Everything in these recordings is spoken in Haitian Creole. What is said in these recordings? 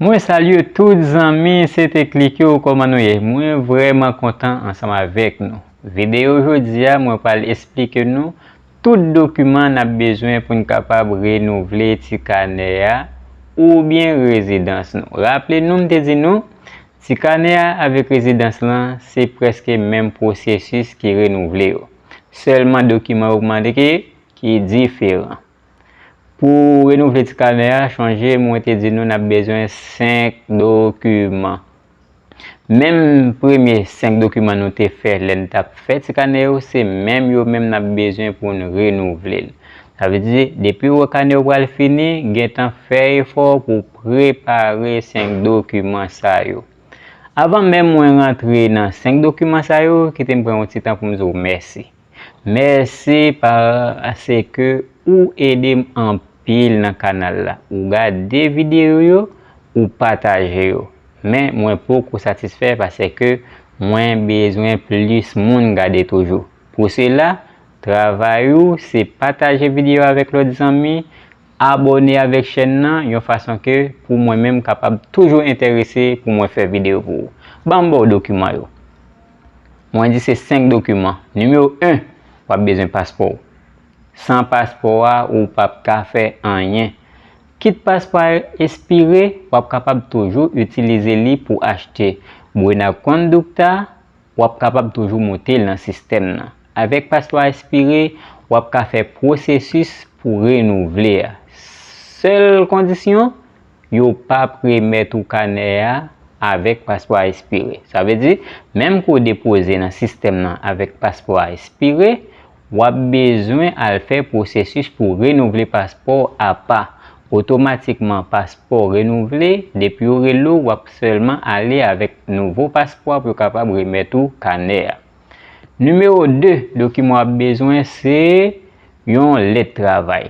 Mwen salye tout zanmi sete klik yo kòman nou ye mwen vrèman kontan ansanm avèk nou videyo jodia mwen pral esplike nou tout dokiman nap bezwen poun kapab renouvle ti kanè a oubyen rezidans nou raple nou m te di nou ti kanè a avèk rezidans lan se prèske menm pwosesis ki renouvle yo sèlman dokiman yo mande ki diferan. Pou renouvle ti kanè a, chonje mwen te di nou n ap bezwen 5 dokiman. Menm premye 5 dokiman nou te fè lè n t ap fè ti kanè yo, se menm yo menm n ap bezwen pou n renouvle l. Sa vle di, depi w wè kanè w pral fini, gen tan fè efò pou w prepare 5 dokiman sa yo. Avan menm mwen rantre nan 5 dokiman sa yo, kite m pran yon ti tan pou m di w mèsi. Merci parseke ou edem anpil nan kanal la ou gade video yo ou pataje yo men mwen poko satisfè parseke mwen bezwen plis moun gade toujou pou sela travay ou se pataje video avek lot zanmi abone avek chèn nan yon fason ke pou mwen menm kapab toujou entèrese pou mwen fè video pou ou banm baw dokiman yo. Mwen di se 5 dokiman. Nimewo 1, w ap bezwen paspò w. San paspò a, ou p ap ka fè anyen. Kit paspò a espire, w ap kapab toujou itilize li pou achte Buena Conducta, w ap kapab toujou moute l nan sistèm nan. Avèk paspò a espire, w ap ka fè pwosesis pou renouvle a. Sèl kondisyon? yo pap remèt ou kanè a avèk paspò a espire. Sa vle di, menm ke w depoze nan sistèm nan avèk paspò a espire, w ap bezwen al fè pwosesis pou renouvle paspò w apa. Otomatikman paspò w renouvle, depi yo rele w, w ap sèlman ale avèk nouvo paspò a pou yo kapab remèt ou kanè a. Nimewo 2 dokiman w ap bezwen se yon lèt travay.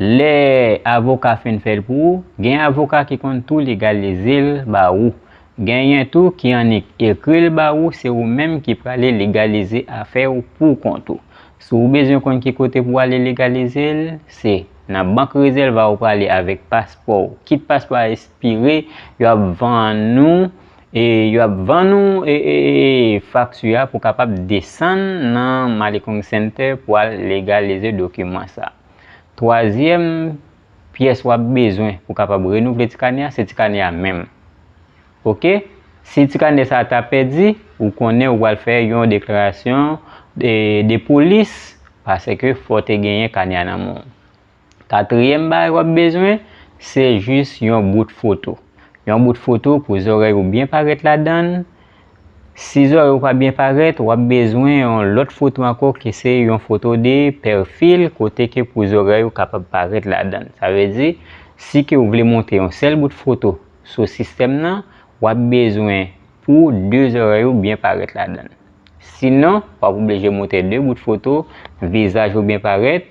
Lè avoka fin fè l pou ou, gen avoka ki konn tou legalize l ba ou. Genyen tou ki annik ekri l ba ou se ou menm ki prale legalize afè w pou kont ou. Si w bezwen konn ki kote pou w ale legalize l, se Nan bank rezèva ou prale avèk paspò w. Kit paspò a espire, yo ap vann ou e yo ap vann ou fakti a pou w kapab desann nan Malikong Center pou w al legalize dokiman sa a. Twazyèm pyès w ap bezwen pou w kapab renouvle ti kanè a, se ti kanè a menm. Ok? Si ti kanè sa a ta pèdi, ou konnen ou pral fè yon deklarasyon de polis paske fò te genyen kanè a nan men w. Katriyèm bagay w ap bezwen, se jis yon bout foto. Yon bout foto pou zòrèy ou byen parèt ladan l. Si zòrèy ou pa byen parèt, wap bezwen yon lòt foto ankò ki se yon foto de pèfil kote ke pou zòrèy ou kapab parèt ladann. Sa vle di, si ke ou vle monte yon sèl bout foto sou sistèm nan, wap bezwen pou 2 zòrèy ou byen parèt ladann. Sinon, wap oblije monte 2 bout foto, vizaj ou byen parèt,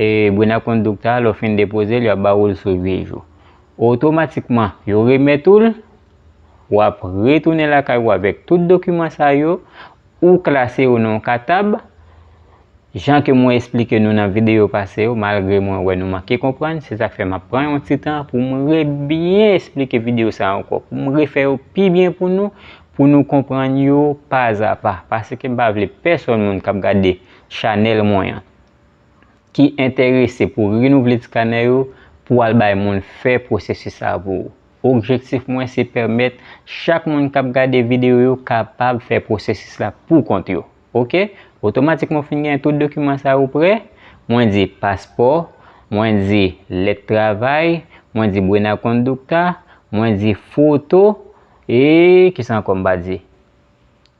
E Buena Conducta a, lè w fin depoze l, y ap ba ou l sou 8 jou. Otomatikman, yo remèt ou l, w ap retounen lakay ou avèk tout dokiman sa yo, ou klase yo nan yon katab, jan ke mwen esplike nou nan videyo pase yo, malgre mwen wè nou manke konprann, se sa k fè m ap pran yon ti tan pou m rebyen esplike videyo sa ankò, pou m refè yo pi byen pou nou, pou nou konprann yo pazapa, paske m pa vle pèsonn moun k ap gade chanèl mwen an, ki enterese pou renouvle tikanè yo pou al bay moun fè pwosesis sa pou ou. Objektif mwen se pèmèt chak moun k ap gade videyo yo kapab fè pwosesis la pou kont yo. Ok, otomatikman ou fin gen tout dokiman sa yo prè, mwen di paspò, mwen di lèt travay, mwen di buena conducta, mwen di foto, e kisa ankò m pa di?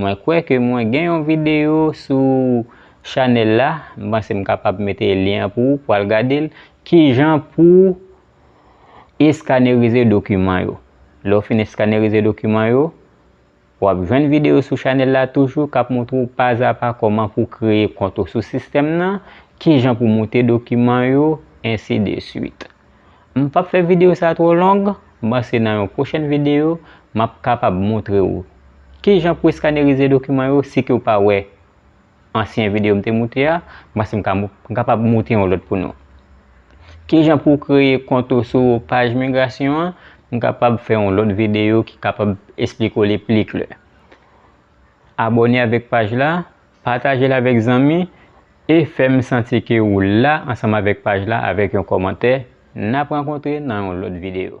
Mwen kwè ke mwen gen yon videyo sou chanèl la, m panse m kapab mete lyen an pou ou pou al gade l, kijan pou eskanerize dokiman yo. Lè w fin eskanerize dokiman yo, w ap jwenn videyo sou chanèl la toujou k ap montre w pazapa kòman pou kreye kont ou sou sistèm nan, kijan pou moute dokiman yo, ensi de swit. M pap fè videyo sa twò long, m panse nan yon pwochèn videyo m ap kapab montre ou kijan pou eskanerize dokiman yo si ke ou pa wè ansyen videyo m te moute a, m panse m kapab moute yon lòt pou nou. Kijan pou kreye kont ou sou paj migrasyon an, m kapab fè yon lòt videyo ki kapab esplike ou li pli klè. Abòne avèk paj la pataje l avèk zanmi e fè m santi ke ou la ansanm avèk paj la avèk yon kòmantè, n ap rankontre nan yon lòt videyo.